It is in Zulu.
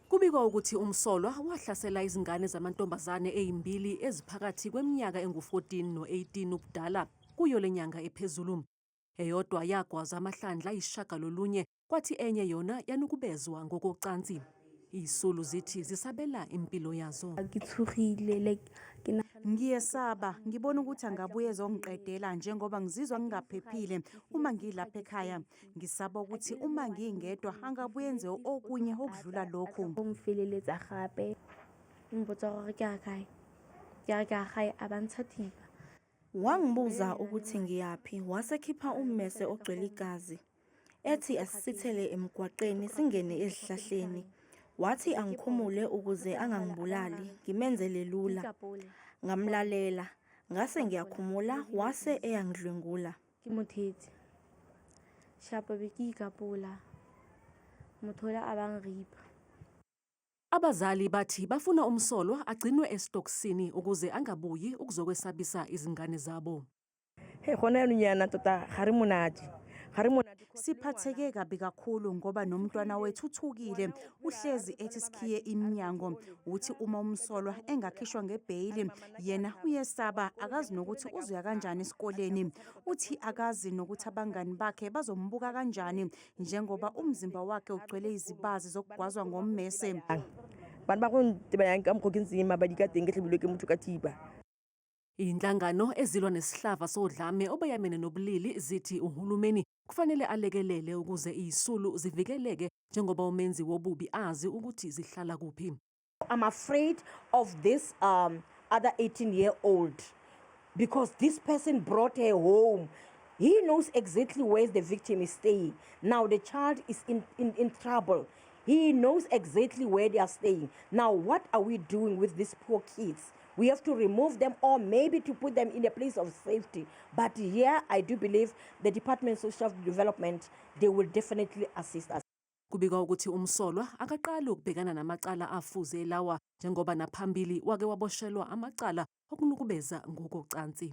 Kubikwa ukuthi umsolwa wahlasela izingane zamantombazane eyimbili eziphakathi kweminyaka engu-14 no-18 ubudala kuyo le nyanga ephezulu. Eyodwa yagwaza amahlandla ayisishagalolunye kwathi enye yona yanukubezwa ngokocansi. Izisulu zithi zisabela impilo yazo. Ngiyesaba, ngibona ukuthi angabuye ezongiqedela njengoba ngizizwa ngingaphephile uma ngilapha ekhaya. Ngisaba ukuthi uma ngingedwa angabuyenze okunye okudlula lokhu. Umfeleletsa gape ngibotsa gore ke a kae ke a ke a gae a bantsha thipa wangibuza ukuthi ngiyaphi wasekhipha ummese ogcwele igazi ethi asisithele emgwaqeni singene ezihlahleni wathi angikhumule ukuze angangibulali ngimenzele lula ngamlalela ngase ngiyakhumula wase eyangidlwengula ke mothetsi shapo be ke ikapola motho ola a bang ripa Abazali bathi bafuna umsolwa agcinwe esitokisini ukuze angabuyi ukuzokwesabisa izingane zabo. Hey, gona yaanong yana tota ga re monate ga re monate Siphatheke kabi kakhulu ngoba nomntwana wethu uthukile uhlezi ethi sikhiye iminyango uthi uma umsolwa engakhishwa ngebheyili yena uyesaba akazi nokuthi uzoya kanjani esikoleni uthi akazi nokuthi abangani bakhe bazombuka kanjani njengoba umzimba wakhe ugcwele izibazi zokugwazwa ngommese bana ba go ntebanyang ka mokgwa ke ntseng mabadi ka teng ke tlhabilwe ke motho ka thiba Izinhlangano ezilwa nesihlava sodlame obeyamene nobulili zithi uhulumeni kufanele alekelele ukuze izisulu zivikeleke njengoba umenzi wobubi azi ukuthi zihlala kuphi. I'm afraid of this um, other 18 year old because this person brought her home He knows exactly where the victim is staying. Now the child is in, in, in trouble. He knows exactly where they are staying. Now, what are we doing with these poor kids? we have to remove them or maybe to put them in a place of safety. But here, I do believe the Department of Social Development, they will definitely assist us. Kubikwa ukuthi umsolwa akaqali ukubhekana namacala afuze lawa njengoba naphambili wake waboshelwa amacala okunukubeza ngokocansi.